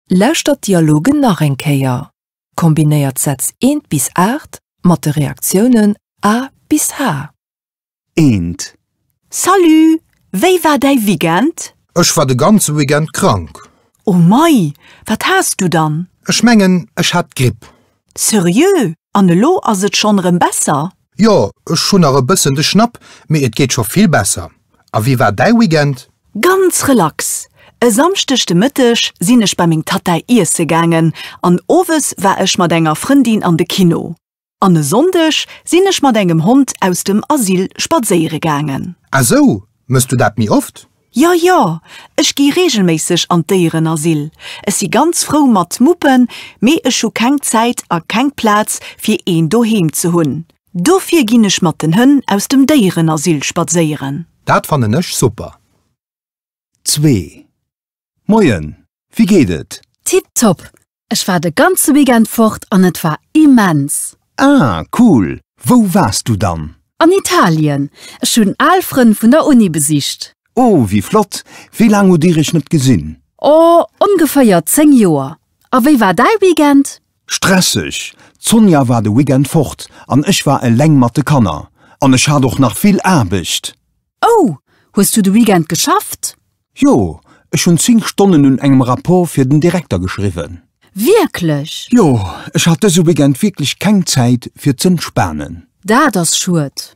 Lauschtert d'Dialogen nach eng Kéier. Kombinéiert d'Sätz eent bis aacht mat de Reaktiounen A bis H. Eent. Salut! Wéi war däi Weekend? Ech war de ganze Weekend krank. Oh mei, wat has du dann? Ech mengen, ech hat d'Gripp. Seriö? An elo ass et schonn erëm besser? Jo, ech hunn nach e bëssen de Schnapp, mee et geet scho vill besser. A wéi war däi Weekend? Ganz relax. E Samschdeg de Mëtteg sinn ech bei meng Tattai iesse gaangen an owes war ech mat enger Frëndin an de Kino. An e Sonndeg sinn ech mat engem Hond aus dem Asyl spadséiere gaangen. Ah sou, mëss du dat méi oft? Jo, jo, ech gi reegelméisseg an d'Déierenasyl. Ech si ganz frou mat Muppen, mee ech hu keng Zäit a keng Plaz, fir een doheem ze hunn. Dofir ginn ech mat den Hënn aus dem Déierenasyl spadséieren. Dat fannen ech super! Zwee. Moien! Wie geet et? Tip top! Ech war de ganze Weekend fort an et war immens! Ah cool! Wou waars du dann? An Italien! Ech hunn al Frënn vun der Uni besicht. Oh wie flott! Wéi laang hutt dir iech net gesinn? Oh ongeféier 10 Joer! A wéi war däi Weekend? Stresseg! D'Sonja war de Weekend fort an ech war eleng mat de Kanner. An ech hat och nach vill Aarbecht! Oh! Hues du de Weekend geschafft? Jo, ech hunn 10 Stonnen un engem Rapport fir den Direkter geschriwwen. Wierklech? Jo, ech hat dëse Weekend wierklech keng Zäit fir z'entspanen. Dat ass schued.